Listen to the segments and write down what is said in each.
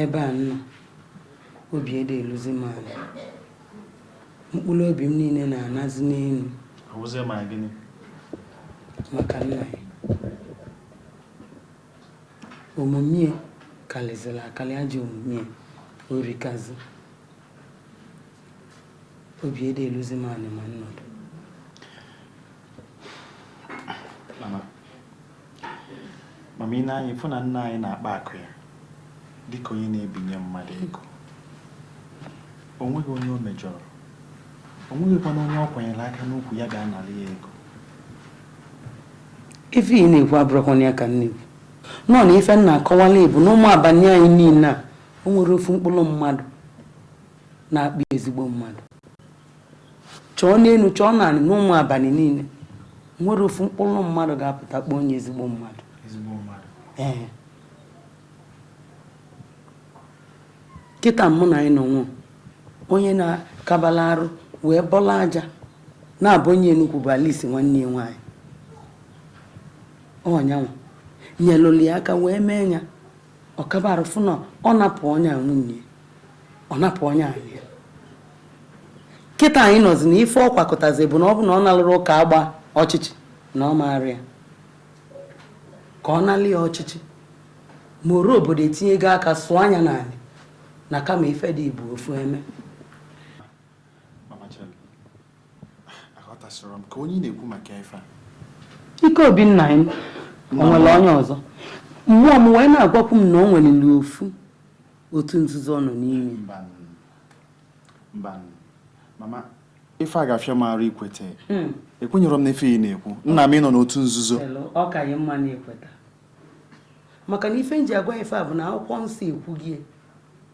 Ebe a m nọ, obi adị eluzi m anị. Mkpụlụ obi m niine na-anazi n'enu. Ọ bụzi maka gịnị? Maka nna anyị. Omume ya kalịzịlị akalị ajọ omume ya erikazi. Obi adị eluzi m anị ma nnọdụ. mama i nee anya ị fụ na nna anyị na-akpa akụ ya dịka onye na-ebinye mmadụ ego o nweghị onye o mejọrọ o nweghịkwana onye ọ kwanyere aka n'ukwu ya ga-analị ya ego ife ị na-ekwu abụrọkwanụ ya ka m na-ekwu nọọ na ife m na-akọwalụ ị bụ n'Ụmụabanị anyị niine a o nwerọ ofu mkpụlụ mmadụ na-akpọ ya ezigbo mmadụ chọọ n'enu chọọ n'anị n'Ụmụabanị niine nwerọ ofu mkpụlụ mmadụ ga-apụta kpọọ onye ezigbo mmadụ ee kịta mụ na anyị nọ nwụọ onye na-akabala arụ wee bọla aja na-abụ onye enugwu bụ alisi nwanne ya nwaanyị ọ nya nwa nyelụlụ ya aka wee mee ya ọ kabara fụ na ọ napụ onye a nwunye ya ọ napụ onye a anị ya kịta anyị nọzi na ife ọ kwakọtazi bụ na ọ bụ na ọ nalụrụ ụka agba ọchịchị na ọ ma aria ka ọ nalị ya ọchịchị ma ọra obodo etinyego aka sụọ anya n'anị na kama ife dị etu afụ eme Ikeobi nna anyị o nwere onye ọzọ mmụọ m wee na-agwakwu m na o nwelili ofu otu nzuzo ọ nọ n'ime ya mama ife a ga-afịa m arụ ikweta hmm. ekwenyerọ m na ife ị na-ekwu nna m ịnọ n'otu nzuzo ọ ka ị mma na i kweta maka na ife m ji agwa ị ife a bụ na akwụkwọ nsọ ekwugo ya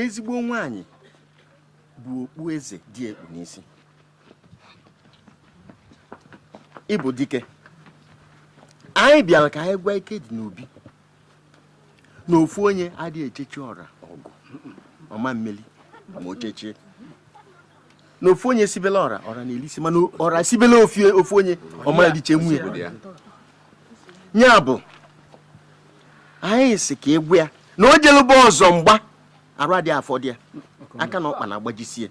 ezigbo nwaanyị bụ okpu eze di ya kpu n'isi ịbụ dike anyị bịalụ ka anyị gwa Ikedinobi na ofu onye adị echechi ọra ọgụ ọ ma emeli ma o chechie na ofu onye sibela ọra ọra na-elisi mana ọra sibela ofu onye ọ ma elichanwu ya ya bụ anyị sị ka ị gwa ya na o jelụ gba ọzọ mgba arụ adị afọdụ ya aka na ọkpa na-agbajisie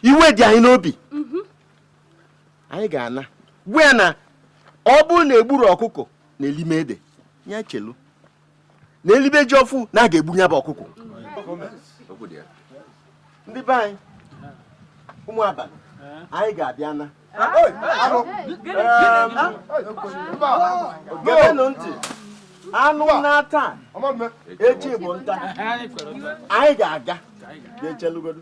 iwe dị anyị n'obi anyị ga-ana gwa ya na ọ bụrụ na e gburọ ọkụkọ na-eli m ede ya chelu na e libe ji ọfụ na a ga-egbu ya bụ ọkụkọ ndị be anyị ụmụ abalị anyị ga-abịa na geenụ ntị anụ naa taa echi bụ nta anyị ga-aga ga-echelugodo